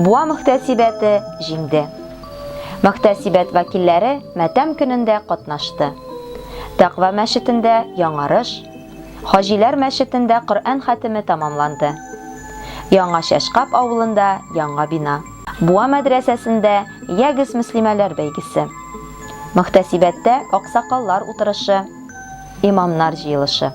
Буа мөхтәсибәте җиңде. Мөхтәсибәт вәкилләре матәм көнендә катнашты. Тәкъва мәчетендә яңарыш, Хаҗиләр мәчетендә Коръән хәтеме тәмамланды. Яңа Чәчкап авылында яңа бина. Буа мәдрәсәсендә Ягез мөслимәләр бәйгесе. Мөхтәсибәттә аксакаллар утырышы, имамнар җыелышы.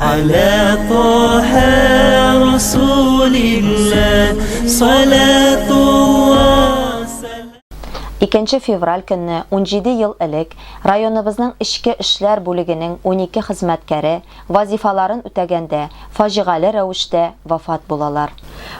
Аля Тоһә Расулилла Икенче февраль көнне, унҗиде ел элек, районыбызның эчке эшләр бүлегенең унике хезмәткәре, вазифаларын үтәгәндә, фаҗигале рәвештә вафат булалар.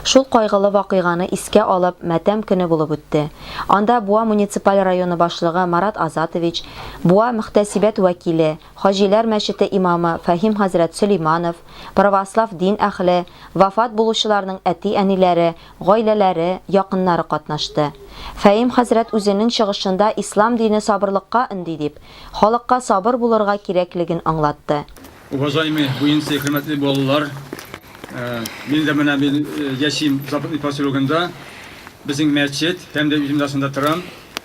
Шул кайгылы вакыйганы искә алып, матәм көне булып үтте. Анда Буа муниципаль районы башлыгы Марат Азатович, Буа мөхтәсибәт вәкиле, Хаҗиләр мәчете имамы Фәһим хәзрәт Сөләйманов, православ дин әһле, вафат булучыларның әти-әниләре, гаиләләре, якыннары катнашты. Фәим хәзрәт үзенең чыгышында ислам дине сабырлыкка өнди дип, халыкка сабыр булырга кирәклеген аңлатты. Уважаемый Буинский, хөрмәтле балалар! Мин дә менә мин яшим Западный поселогында, безнең мәчет һәм дә үзем дә шунда торам.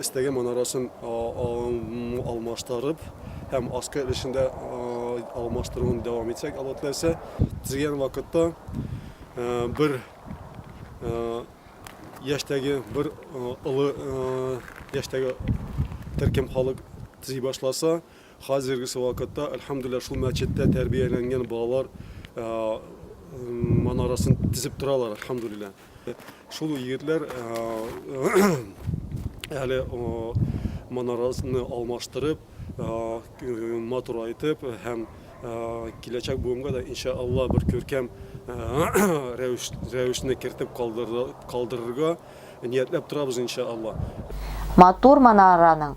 Эстәге манарасын алмаштырып һәм аскы өлешендә алмаштыруын дәвам итсәк, Алла теләсә, төзегән вакытта бер яшьтәге, бер олы яшьтәге төркем халык төзи башласа, хәзергесе вакытта, әлхәмдүлилләһ, шул мәчеттә тәрбияләнгән балалар манарасын тезеп торалар, әлхәмдүлилләһ. Шул егетләр әле манарасны алмаштырып, матур айтып һәм киләчәк буынга да иншаалла бер күркәм рәвешне кертеп калдырырга ниятләп торабыз иншаалла. Матур манараның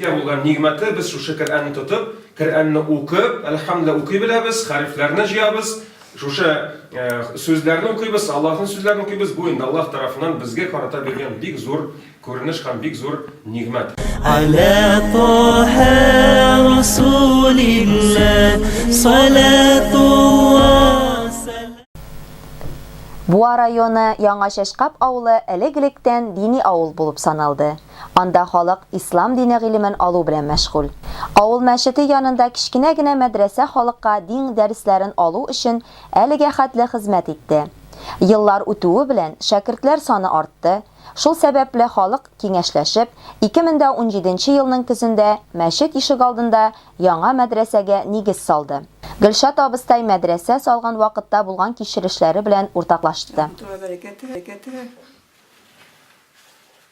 Ия булган нигъмәте, без шушы Коръәнне тотып, Коръәнне укып, әлхәмдүлиллаһ укый беләбез, хәрефләрне җыябыз, шушы сүзләрне укыйбыз, Аллаһның сүзләрен укыйбыз, бу инде Аллаһ тарафыннан безгә карата биргән бик зур күренеш һәм бик зур нигъмәт. Аля Таһа Расулиллаһ салатулла Буа районы Яңа Чәчкап авылы элек-электән дини авыл булып саналды. Анда халык ислам дине гыйлемен алу белән мәшгуль. Авыл мәчете янында кечкенә генә мәдрәсә халыкка дин дәресләрен алу өчен әлегә хәтле хезмәт итте. Еллар үтүе белән шәкертләр саны артты, шул сәбәпле халык киңәшләшеп, 2017 нче елның көзендә мәчет ишегалдында яңа мәдрәсәгә нигез салды. Гөлшат абыстай мәдрәсә салган вакытта булган кичерешләре белән уртаклашты.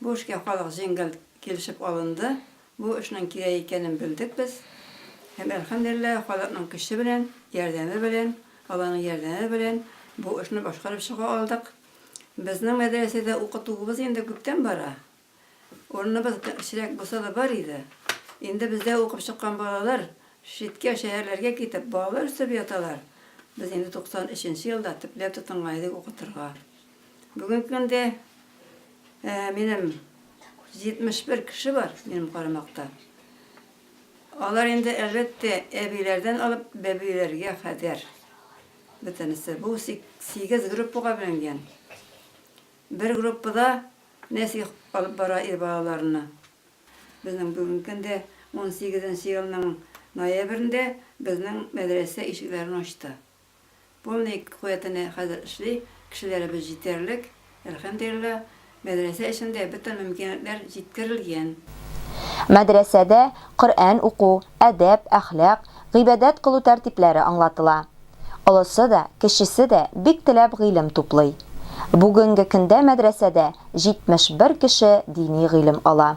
Бу эшкә халык җиңел килешеп алынды. Бу эшнең кирәк икәнен белдек без. Һәм, әлхәмдүлилләһ, халыкның көче белән, ярдәме белән, Алланың ярдәме белән бу эшне башкарып чыга алдык. Безнең мәдрәсәдә укытуыбыз инде күптән бара. Урыныбыз кечерәк булса да бар иде. Инде бездә укып чыккан балалар читкә, шәһәрләргә китеп, балалар үстереп яталар. Без инде 93 нче елда төпләп тотынган идек укытырга. Бүгенге көндә минем 71 кеше бар минем карамакта. Алар инде әлбәттә әбиләрдән алып бәбиләргә кадәр. Бөтенесе бу 8 группага бүленгән. Бер группада Нәсих алып бара ир балаларны. Безнең бүгенге көндә 18 елның ноябрендә безнең мәдрәсә ишекләрен ачты. Полный куәтенә хәзер эшли, кешеләребез җитәрлек, әлхәмдулилла, мәдрәсә өчен дә бөтен мөмкинлекләр җиткерелгән. Мәдрәсәдә Коръән уку, әдәп, әхлак, гыйбадәт кылу тәртипләре аңлатыла. Олысы да, кечесе дә бик теләп гыйлем туплый. Бүгенге көндә мәдрәсәдә 71 кеше дини гыйлем ала.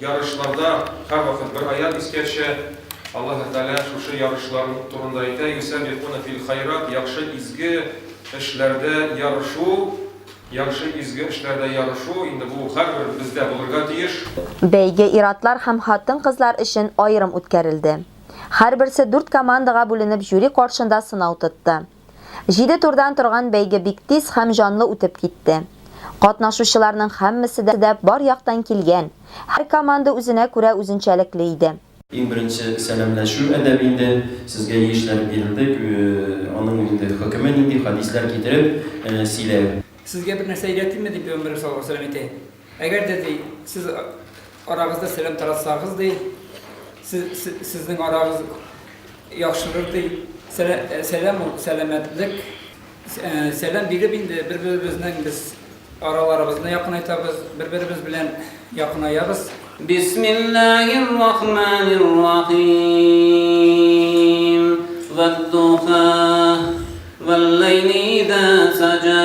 Ярышларда һәрвакыт бер аять искә төшә. Аллаһы Тәгалә шушы ярышлар турында әйтә, Юсәбикуна фил хайрат, яхшы, изге эшләрдә ярышу, яхшы, изге эшләрдә ярышу, инде бу һәрбер бездә булырга тиеш. Бәйге ир-атлар һәм хатын-кызлар өчен аерым үткәрелде. Һәрберсе дүрт командага бүленеп жюри каршында сынау тотты. Җиде турдан торган бәйге бик тиз һәм җанлы үтеп китте. Катнашучыларның һәммәсе дә бар яктан килгән, һәр команда үзенә күрә үзенчәлекле иде. Иң беренче сәламләшү әдәбе инде, сезгә яшьләр бирелде, аның инде хөкеме нинди, хәдисләр китереп сөйләү. Сезгә бер нәрсә өйрәтимме, дип пәйгамбәребез саллаллаһу галәйһи ва сәлләм әйтә. Әгәр дә, ди, сез арагызда сәлам таратсагыз, ди, сезнең арагыз яхшырыр, ди. Сәлам ул, сәламәтлек. Сәлам биреп инде бер-беребезнең без араларыбызны якынайтабыз, бер-беребез белән якынаябыз. Бисмиллаһир рахманир рахим. Вад-духа, вал-ләйли иза саҗа.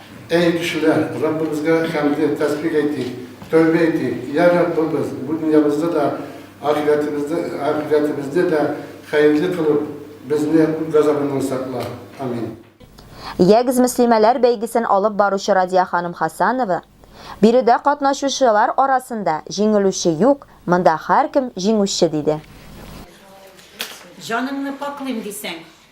Әй, кешеләр, Раббыбызга хәмде, тәсбих әйтик, тәүбә әйтик! Йә, Раббыбыз, бу дөньябызны да, ахирәтебезне, ахирәтебезне дә хәерле кылып, безне ут газабыннан сакла. Амин. Ягез мөслимәләр бәйгесен алып баручы Радия ханым Хасанова, Биредә катнашучылар арасында җиңелүче юк, монда һәркем җиңүче, диде. Җаныңны пакълыйм дисәң.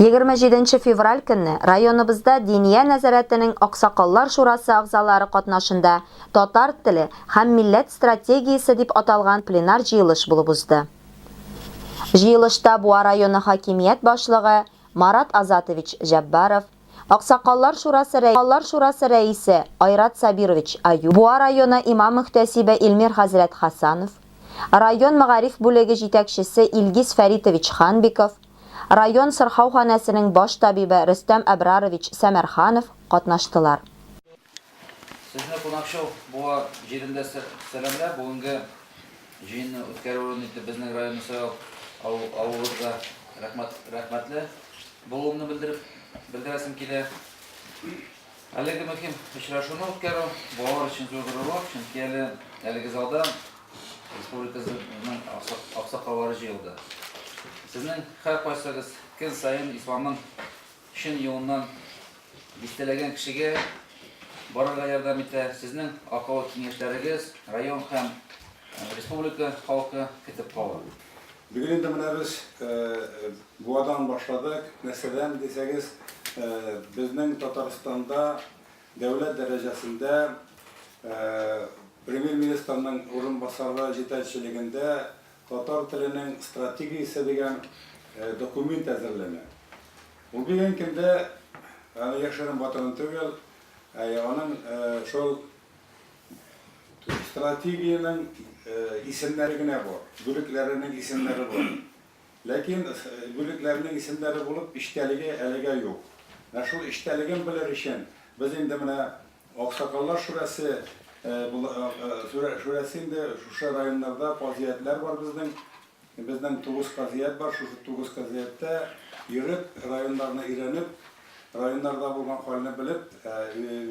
27 нче февраль көнне районыбызда Диния нәзарәтенең аксакаллар шурасы әгъзалары катнашында Татар теле һәм милләт стратегиясе дип аталган пленар җыелыш булып узды. Җыелышта Буа районы хакимият башлыгы Марат Азатович Җәббаров, аксакаллар шурасы рәисе Айрат Сабирович Аюп, Буа районы имам-мөхтәсибе Илмир хәзрәт Хәсанов, район мәгариф бүлеге җитәкчесе Илгиз Фәритович Ханбиков, район сырхауханәсенең баш табибы Рөстәм Әбрарович Сәмәрханов катнаштылар. Сезне Кунакчыл буа җирендә сәламләп, бүгенге җыенны үткәрү урын итеп безнең районны сайлап алуыгызга рәхмәтле булуымны белдерәсем килә. Әлеге мөһим очрашуны үткәрү балалар өчен зур горурлык, чөнки әле әлеге залда республикабызның аксакаллары җыелды. Сезнең һәркайсыгыз көн саен исламның чын юлыннан дистәләгән кешегә барырга ярдәм итә. Сезнең акыллы киңәшләрегез район һәм республика халкы көтеп кала. Бүген инде менә без Буадан башладык. Нәрсәдән дисәгез, безнең Татарстанда дәүләт дәрәҗәсендә Премьер-министрның урынбасары җитәкчелегендә Татар теленең стратегиясе дигән документ әзерләнә. Ул бүгенге көндә, аны яшерен-батырын түгел, аның шул Стратегиянең исемнәре генә бар, бүлекләренең исемнәре бар. Ләкин бүлекләренең исемнәре булып, эчтәлеге әлегә юк. Менә шул эчтәлеген белер өчен, без инде менә Аксакаллар шурәсе шурәсе инде шушы районнарда, казыятьләр бар безнең. Безнең тугыз казият бар, шушы тугыз казияттә йөреп, районнарны өйрәнеп, районнарда булган хәлне белеп,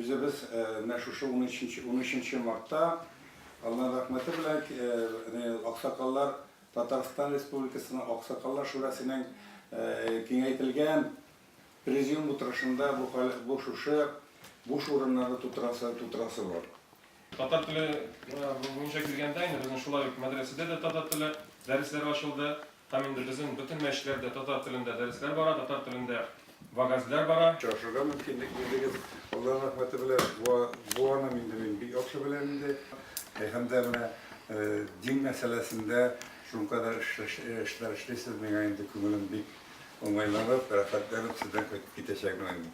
үзебез менә шушы унөченче мартта, Алланың рәхмәте белән, аксакаллар, Татарстан Республикасының Аксакаллар шурасының киңәйтелгән президиум утырышында бу шушы буш урыннарны тутырасы бар. Татар теле буенча килгәндә, инде безнең шулай ук мәдрәсәдә дә татар теле дәресләре ачылды һәм инде безнең бөтен мәчетләрдә татар телендә дәресләр бара, татар телендә вәгазьләр бара. Очрашырга мөмкинлек бирдегез, Алла рәхмәте белән буаным инде мин бик яхшы беләм инде. Һәм дә менә дин мәсьәләсендә шулкадәр эшләр эшлисез, миңа инде күңелем бик уңайланып, рәхәтләнеп сездән кайтып китәчәкмен инде.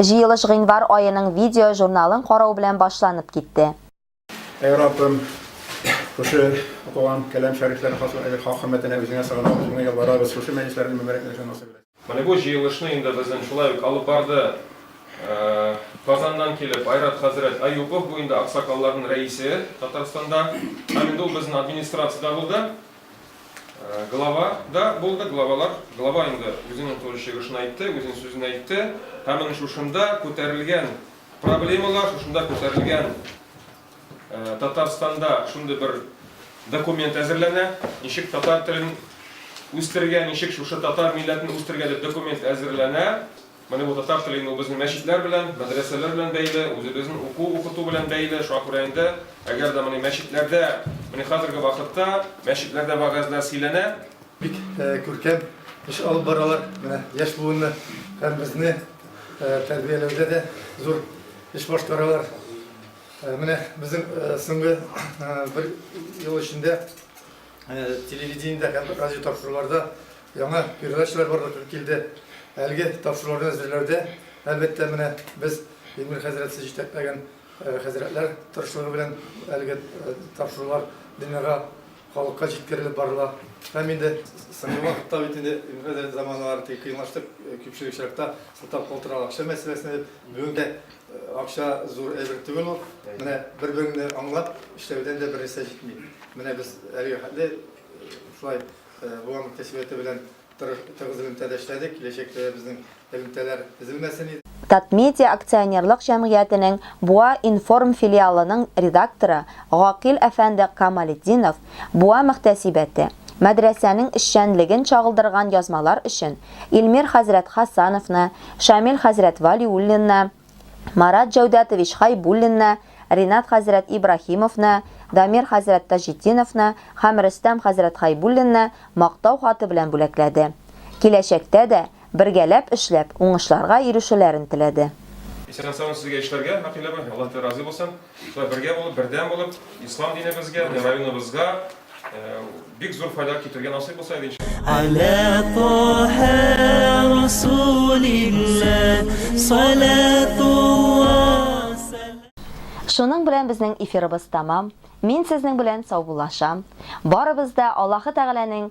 Җыелыш гыйнвар аеның видео-журналын карау белән башланып китте. Әй Раббым, шушы укыган кәлам шәрифләр хак хөрмәтенә Үзеңә сыгынабыз, Үзеңә ялварабыз, шушы мәҗлесләрне мөбарәкләшергә насыйп ит. Менә бу җыелышны инде безнен шулай ук алып барды Казаннан килеп Айрат хәзрәт Әюпов, бу инде аксакалларнын рәисе Татарстанда, һәм инде ул безнен администрациядә булды. Э, глава да булды, главалар. Глава инде үзенең туры чыгышын әйтте, үзенең сүзен әйтте. Һәм менә шушында күтәрелгән проблемалар, шушында күтәрелгән э, Татарстанда шундый бер документ әзерләнә. Ничек татар телен үстерергә, ничек шушы татар милләтен үстерергә дип документ әзерләнә. Менә бу татар теле инде ул безнең мәчетләр белән, мәдрәсәләр белән бәйле, үзебезнең уку, укыту белән бәйле. Шуңа күрә инде, әгәр дә менә мәчетләрдә, менә хәзерге вакытта мәчетләрдә вәгазьләр сөйләнә. Бик күркәм эш алып баралар. Менә яшь буынны һәм безне тәрбияләүдә дә зур эш башкаралар. Менә безнең соңгы бер ел эчендә, телевидениедә һәм радиотапшыруларда яңа передачалар барлыкка килде. Әлеге тапшыруларны әзерләүдә, әлбәттә, менә без Эмир хәзрәтсез җитәкләгән хәзрәтләр тырышлыгы белән әлеге тапшырулар дөньяга, халыкка җиткерелеп барыла. Һәм инде соңгы вакытта бит инде Эмир хәзрәт заманалары тик кыенлаштык, күпчелек очракта сылтап калдыралар акча мәсьәләсенә. Бүген дә Акча зур әйбер түгел ул. Менә бер-береңне аңлап эшләүдән дә бернәрсә җитми. Менә без әлеге хәтле шулай Буаның кәсбияте белән тыгыз элемтәдә эшләдек, киләчәктә дә безнең элемтәләр өзелмәсен. Татмедиа акционерлык җәмгыятенең Буа информ филиалының редакторы Гакил әфәнде Камалетдинов Буа мөхтәсибәте, мәдрәсәнең эшчәнлеген чагылдырган язмалар өчен Илмир хәзрәт Хасановны, Шамил хәзрәт Вәлиуллинны, Марат Җәүдәтович Хәйбуллинны, Ринат хәзрәт Ибраһимовны, Дамир хәзрәт Таҗетдиновны һәм Рөстәм хәзрәт Хәйбуллинны Мактау хаты белән бүләкләде. Киләчәктә дә, бергәләп эшләп, уңышларга ирешүләрен теләде. Исән-сау сезгә эшләргә, Мәкыйләбе, Аллаһ Тәгалә разый булсын. Шулай бергә булып, бердәм булып, ислам динебезгә, районыбызга бик зур файда китергән насыйп булса иде Шуның белән безнең эфирыбыз тамам. Мин сезнең белән саубуллашам. Барыбыз да Аллаһы Тәгаләнең